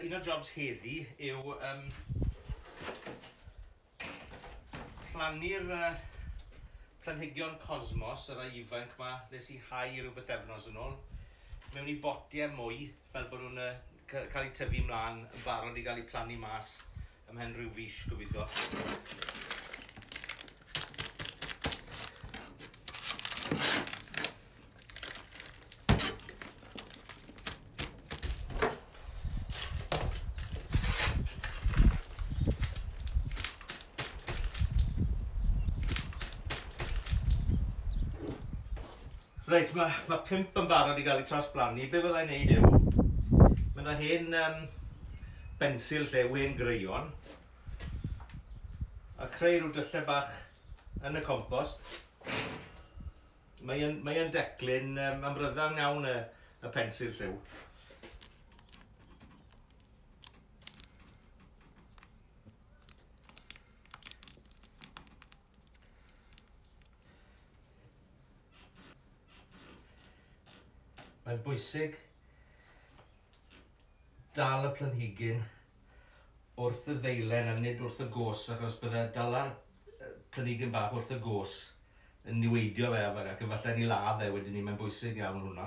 Un o'r jobs heddi yw um, plannu'r uh, planhigion cosmos, yr ei ifanc ma, nes i hau rhywbeth efnos yn ôl, mewn i botiau mwy, fel bod nhw'n uh, cael eu tyfu mlaen yn barod i gael eu plannu mas Ymhen rhyw fis, gobeithio. Reit, mae, mae pump yn barod i gael eu trawsblannu. Be fyddai'n neud yw, mae yna hen um, bensil lle, wen greion, a creu rhyw dyllau bach yn y compost. Mae'n mae declyn um, amryddawn iawn y, y pensil lliw. Mae'n bwysig dal y planhigyn wrth y ddeilen a nid wrth y gos achos bydde dala planhigyn bach wrth y gos yn niweidio fe ac efallai ni ladd fe wedyn ni, mae'n bwysig iawn hwnna.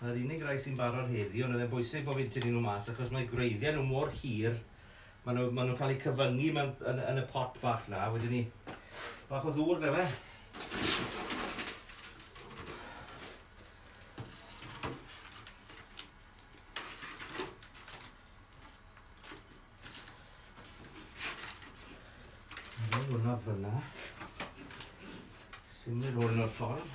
Mae'r unig rai sy'n barod heddi, ond oedd e'n bwysig bod fi'n tynnu nhw mas achos mae gwreiddiau nhw mor hir, maen nhw, maen nhw'n cael eu cyfyngu mewn, yn, yn y pot bach na, wedyn ni, bach o ddŵr fe fe. Hwna fyna. Symud hwn o'r ffordd.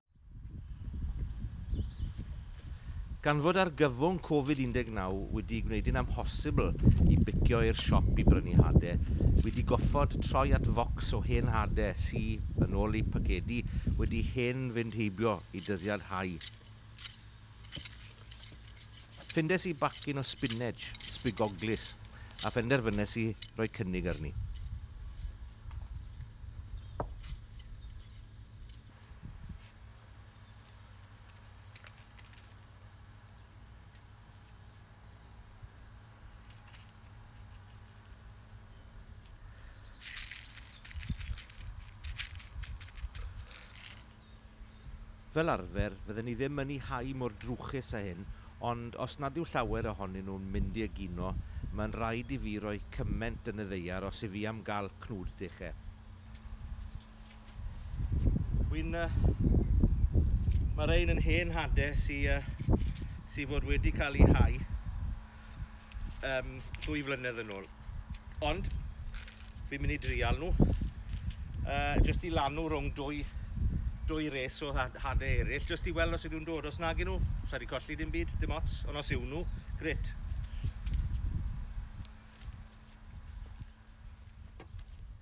Gan fod argyfwng Covid 19 wedi gwneud hi'n amhosibl i bicio i'r siop i brynu hade, wi 'di goffod troi at focs o hen hade sy, yn ôl eu pacedi, wedi hen fynd heibio i dyddiad hau. Ffindes i bacyn o spineg, sbigoglys, a phenderfynes i roi cynnig arni. Fel arfer, fydden ni ddim yn 'u hau mor drwchus â hyn, ond os nad yw llawer ohonyn nhw'n mynd i egino, mae'n rhaid i fi roi cyment yn y ddaear os 'y fi am gael cnwd deche. Wy'n... Uh, mae rhain yn hen hadau sy'n uh, sy fod wedi cael ei hau um, dwy flynedd yn ôl. Ond, fi'n mynd i drial nhw. Uh, just i lanw rhwng dwy, dwy res o hadau eraill, just i weld os ydw'n dod. Os nag nhw, sa'n wedi colli dim byd, dim ots. Ond os yw nhw, gret.